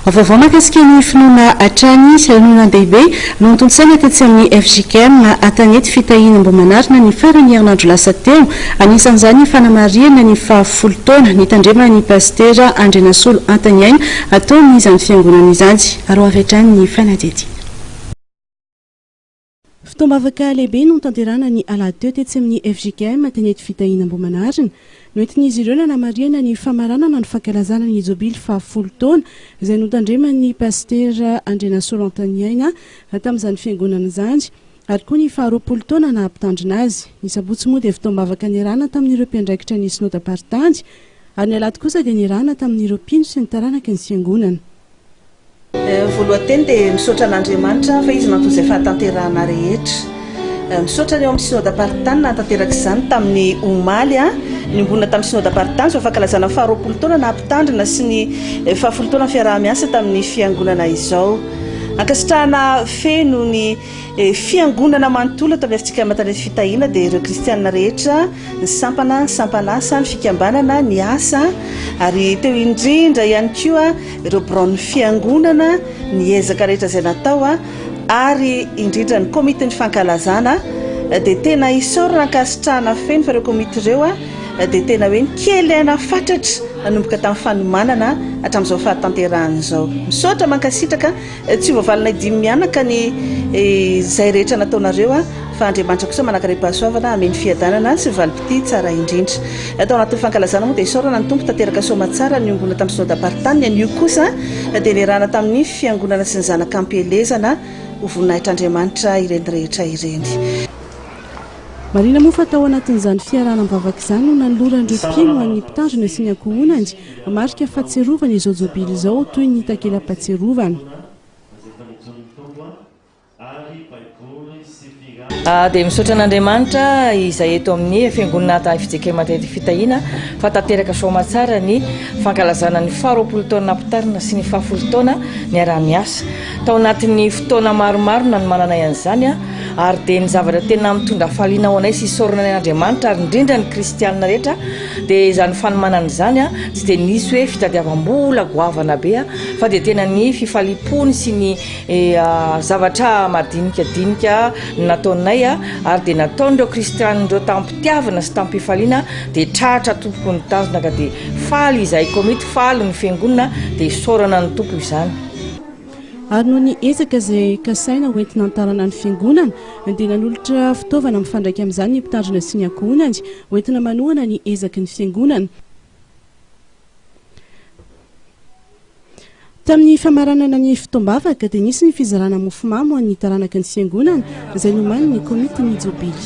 Vaovao mahakasika ny finoana hatrany sy lanonandehibe notontosaina tetsy amin'ny fjkm Atanety fitahiana Ambohimanarina ny faran'ny herinandro lasa teo. Anisan'izany ny fanamarihana ny fahafolo taona nitandreman'ny Pasitera Andrianasolo Antaniaina ataon'izany fiangonana izany. Aroavy hatrany ny fanadihadiana. Fotoam-bavaka lehibe notanterahana ny alahady teo tetsy amin'ny fjkm Tenety Fitahiana Ambohimanarina. Noentin'izy ireo nanamarihana ny famaranana ny fankalazana ny Jobily fahafolo taona izay notandreman'ny Pasitera Andrianasoa Rantaniaina tamin'izany fiangonana izany ary koa ny faharoapolo taona naha mpitandrina azy. Ny sabotsy moa dia fotoam-bavaka niarahana tamin'ireo mpiandraikitra ny Sinoda-paritany ary ny alahady kosa dia niarahana tamin'ireo mpino sy ny taranaky ny fiangonana. Voalohan-teny dia misaotra an'Andriamanitra fa Izy nanton'izay fahatanterahana rehetra. Misaotra ny ao amin'ny Synoda Paritany nahatanteraka izany tamin'ny omaly. Niombonana tamin'ny Synoda Paritany izao fankalazana ny faharoapolo taona naha mpitandrina sy ny fahafolo taona fiaraha-miasa tamin'ny Fiangonana izao. Ankasitrahana feno ny. Ny Fiangonana manontolo eto amin'ny Afrika Matan'ny Ety Fitahiana dia ireo kristiana rehetra, ny sampana, ny sampan'asa, ny fikambanana, ny asa, ary teo indrindra ihany koa ireo biraon'ny Fiangonana, ny ezaka rehetra izay natao, ary indrindra ny Komitin'ny Fankalazana, dia tena isaorana ankasitrahana feno fa ireo komity ireo dia tena hoe ny kely aina fatratra nanomboka tamin'ny fanomanana hatramin'izao fahatanterahana izao. Misaotra, mankasitraka. Tsy hovalinay dimy mianaka ny izay rehetra nataonareo an, fa Andriamanitra kosa manankarem-pahasoavana hameno fiadanana sy valim-pitia tsara indrindra. Tao anatin'ny fankalazana moa dia isaorana ny Tompo tanteraka soamatsara niombona tamin'ny Synoda Paritany, anio kosa dia niarahana tamin'ny Fiangonana sy ny zanaka ampielezana ho voninahitr'Andriamanitra ireny rehetra ireny. Marihina moa fa tao anatin'izany fiarahana am-bavaka izany no nanoloran'ireo mpino an'ny Mpitandrina sy ny ankohonany Marika fahatsiarovana izao jobily izao toy ny takela-pahatsiarovana. Aah dia misaotra an'Andriamanitra izay eto amin'ny fiangonana Adahy Fijekema Manteity Fitahiana fa tanteraka soamatsara ny fankalazana ny faharoapolo taona nampitarina sy ny fahafolo taona niaraha-niasa. Tao anatin'ny fotoana maromaro nanomananay an'izany aho ary dia ny zavatra tena mitondra hafaliana ho anay sy isaorana ny an'Andriamanitra ary indrindra ny kristianina rehetra Dia izany fanomanana izany tsy dia nisy hoe fitadiavam-bola goavana be fa dia tena ny fifaliam-pony sy ny zavatra madinika dinika nataonay ary dia nataon'ireo kristianina ireo tamim-pitiavana sy tamim-pifaliana dia tratra tompoko ny tanjona ka dia faly izahay komity faly ny fiangonana dia isaorana ny tompo izany. Ary noho ny ezaka izay kasaina ho entina hantarana ny fiangonana dia nanolotra fitaovana mifandraika amin'izany ny mpitandrina sy ny ankohonany Ho entina manohana ny ezaky ny Fiangonana. Tamin'ny famaranana ny fotoam-bavaka dia nisy ny fizarana mofomamy ho an'ny taranaky ny Fiangonana izay nomanin'ny Komitin'ny Jobily.